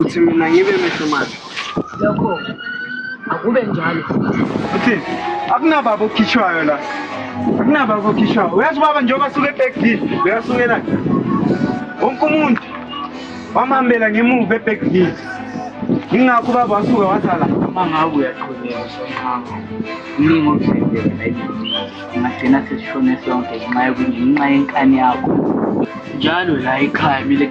Uthi mina ngibe mehlo manje. Lokho akube njalo. Uthi akunababa okhishwayo la. Akunababa okhishwayo. Uyazi baba njengoba suke eBackville, uyasuke la. Wonke umuntu wamhambela ngemuva eBackville. Ingakho baba wasuke wasala uma ngawe uyaqhubeka sonqama. Ningi okuthembele bayithi. Ngagcina sesishone sonke ngenxa yokungenxa yenkani yakho. Njalo la ekhaya mile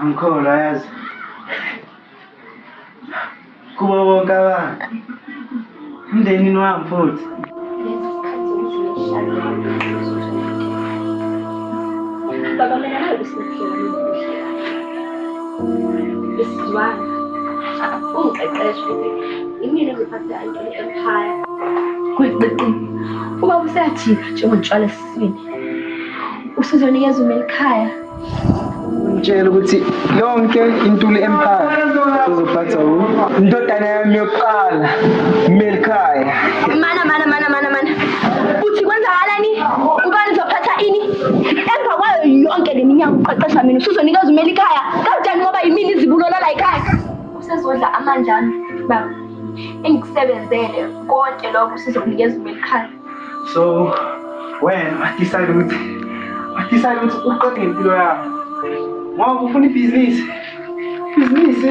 angikholwa yazi kubo bonke abantu emndenini wami futhi Baba mina nawe usiphila mina. Uma usathi njengotshwala esiswini usuzonikeza uma elikhaya ngitshela ukuthi yonke intuli empire uzophatha u indodana yami yokuqala melikhaya mana mana mana mana mana uthi kwenzakalani ubani uzophatha ini emva kwayo yonke le minyaka uqeqesha mina usuzonikeza umele ikhaya kanjani ngoba yimini izibulola la ikhaya usezodla amandla ami baba engikusebenzele konke lokho usizokunikeza umele ikhaya so wena wadisayile ukuthi wadisayile ukuthi uqede ngempilo yakho ngoba ufuna ibhizinisi ibhizinisi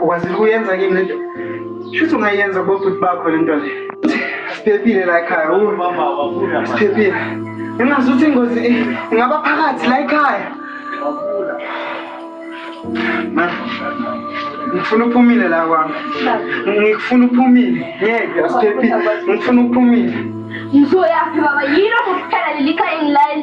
ukwazile ukuyenza kimi lento shuthi ungayenza kubobhuti bakho lento le siphephile la ekhaya siphephile ingazi ukuthi ingozi ingaba phakathi la ekhaya ngifuna uphumile la kwami ngikufuna uphumile ngeke asiphephile ngifuna uphumile ngizoyaphi baba yilo kuphela lelikhaya engilayo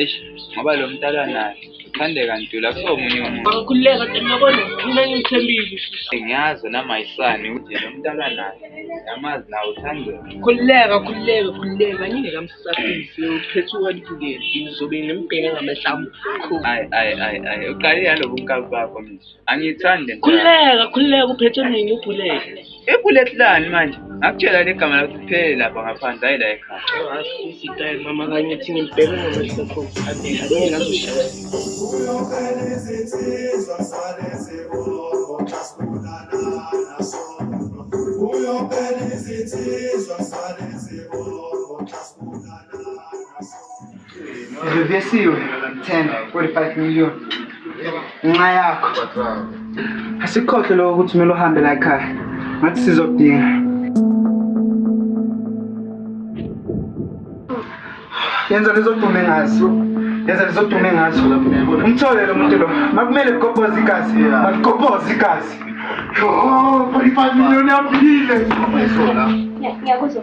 Eish, ngoba lo mntala naye uthandeka ntula kusomunye umuntu. Angikhululeka kodwa ngiyabona mina ngithembile. Ngiyazi nami ayisani ukuthi lo mntala naye yamazi nawe uthandeka. Khululeka khululeka khululeka ngingeke amsasise uphethe ukwalibukela ngizobe ngimbheka ngamehla amukhulu. Ayi ayi ayi ayi uqale yalobu nkabi bakho manje. angithandi khululeka khululeka uphethe mina ubhuleki ibhuleki lani manje ngakutshela le gama lakho kuphele lapha ngaphandle hayi la ekhaya mama kanye thina ngibheke ngamahlokho uyobhela izithizo sale zibongo Reversiwe 10 45 million ngenxa yakho asikhohle lokho ukuthi kumele uhambe la ekhaya ngathi sizodinga yenza lezodume ngazo yenza lezodume ngazo umthole lo muntu lo makumele kugobhoza igazi makugobhoza igazi 45 million yaphile ngiyakuzwa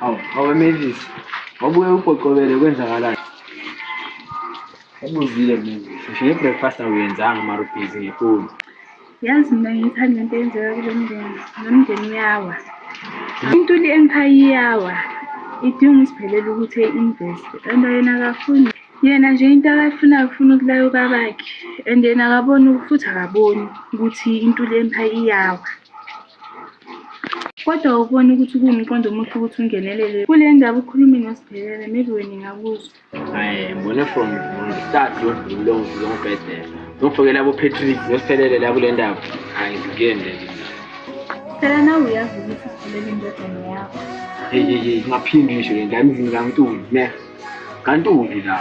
Hawu, hawu Mavis. Wabuke uqoqobele kwenzakalayo. Ubuzile Mavis. Ngisho ibreakfast awuyenzanga mara ubhizi ngefoni. Yazi mina ngiyithanda into eyenzeka kulo mndeni. Lo mndeni uyawa. Intuli empire iyawa. Idinga usiphelele ukuthi e-invest. Kanti yena akafuni. Yena nje into akayifunayo ufuna ukulayo babakhe. And yena akaboni futhi akaboni ukuthi intuli empire iyawa. Kodwa awuboni ukuthi kuwumqondo omuhle ukuthi ungenelele kule ndaba ukhulume nosibhekele maybe wena ingakuzwa hayi ngibone from from the start yodlule ngizongibhedela ngifokela abopatrick nosiphelele la kule ndaba hayi ngikuyende phela nawe uyazi ukuthi siphelele indodana yakho yeyeyeyi ngaphinde isho le ndaba emzini kamntuli ne Kanti uphi la?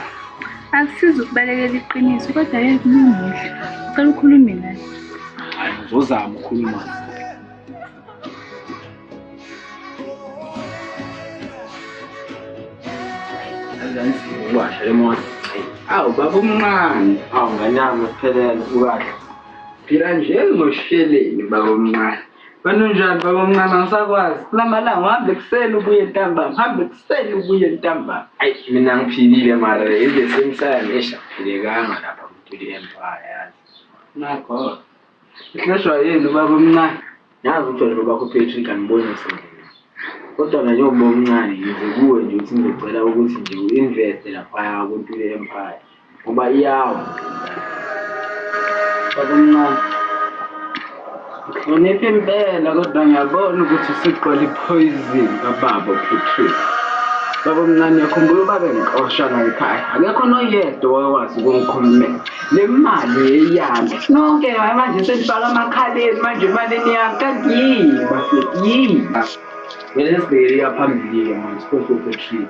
Akusizi ukubalekela iqiniso kodwa yeke kulungile. Cela ukhulume naye. Hayi ngizozama ukukhuluma naye. Washa emoto. Awu baba omncane. Awu ngane yami ngiphelele ukahle. Phila nje ngosheleni baba omncane. Wena unjani baba omncane angisakwazi. Kulamalanga uhambe ekuseni ubuye ntambama. Uhambe ekuseni ubuye ntambama. Ayi mina ngiphilile mara in the same time eish akuphilekanga lapha kuTuli Empire yazi. Nakho. Ihleshwa yini baba omncane? Yazi uthole baba kho Patrick angiboni sendlini. Kodwa nje njengoba omncane ngize kuwe nje ukuthi ngizocela ukuthi nje u-investe lapha kuTuli Empire. ngoba iyawo babomncane ngihlonipha impela kodwa ngiyabona ukuthi siqola iphoyizini kababa upatrick babomncane yakhumbula ubabe ngixosha layikhaya akekho noyedwa owakwazi ukungikhulumela le mali yeyami nonke hayi manje senifaka amakhaleni manje imalini yami kanti yini bafethu yini vele sibhekele iyaphambili-ke manje siphose upatrick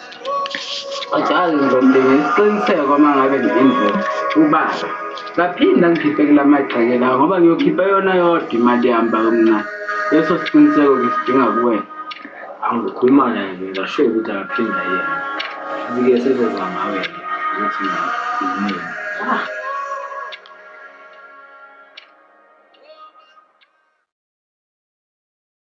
Ajazi ngizodinga isiqiniseko uma ngabe nginemvelo ubaba ngaphinde angikhiphe kula magxeke lawo ngoba ngiyokhipha yona yodwa imali yami bakumncane leso siqiniseko ngisidinga kuwena angikhuluma naye ngingasho ukuthi akaphinda yena bike sizoza ngawe ukuthi ngimini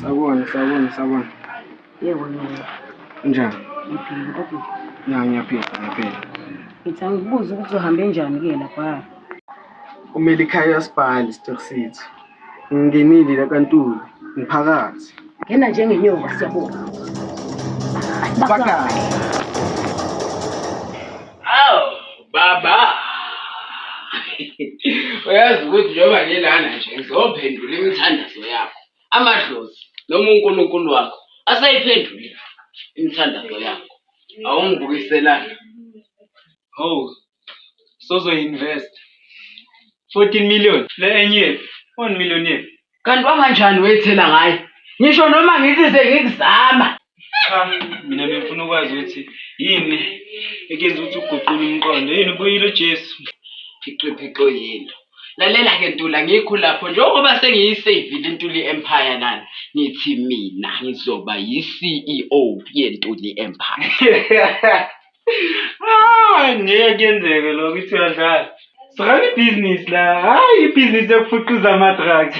Sabona, sabona, sabona. Yebo nina. Njani? Ngiphila kodwa. Ya ngiyaphila, ngiyaphila. Ngithi angikubuze ukuthi uhambe njani ke lapha. Umele ikhaya uyasphala istock sethu. Ngingenile kaNtuli, ngiphakathi. Ngena njengenyoka siyabonga. Bakala. Aw, baba. Uyazi ukuthi njengoba ngilana nje ngizophendula imithandazo yakho. Amadlozi noma uNkulunkulu wakho asayiphendulile imithandazo yakho. Awungibukiselanga. Hawu, sozoyi-invest 14 million le enye yephi 1 million yephi kanti kwanganjani weyithela ngaye ngisho noma ngithi sengikuzama cha mina bengifuna ukwazi ukuthi yini ekenza ukuthi uguqule umqondo yini ubuyile ujesu ixiphiqo yinto lalela-ke ntula ngikho lapho njengoba sengiyiseyivile intuli empire lana ngithi mina ngizoba yi-ceo yentuli empire Ah, ngeke kuyenzeke lokho ithi uyadlala. Siqala ibhizinisi la, hhayi ibhizinisi yokufuqiza ama-drugs.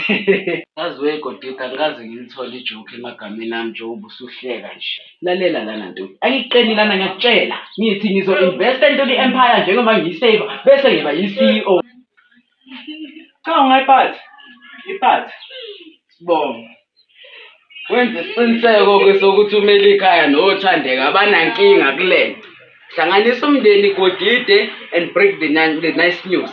Yazi we Godita angikaze ngilithole ijoke emagameni ami njengoba usuhleka nje. Lalela lana ntombi, angiqeni lana ngiyakutshela. Ngithi ngizo-investa entweni i-empire njengoba ngiyi-saver bese ngiba yi-CEO. Cha ungayiphathi. Iphathe. Sibonga. Wenze isiqiniseko ke sokuthi umele ikhaya nothandeka abanankinga kulento. Hlanganisa umndeni Godide and break the, the nice news.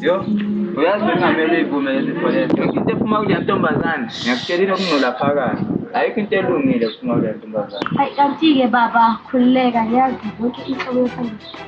Yo, uyazi bengamele ivume lezi forever. Yonke into ephuma kule ntombazane, ngiyakutshelile okungcola phakathi. Ayikho into elungile ephuma kule ntombazane. Hayi kanti-ke baba khululeka yazi yonke inhlobo yesandla.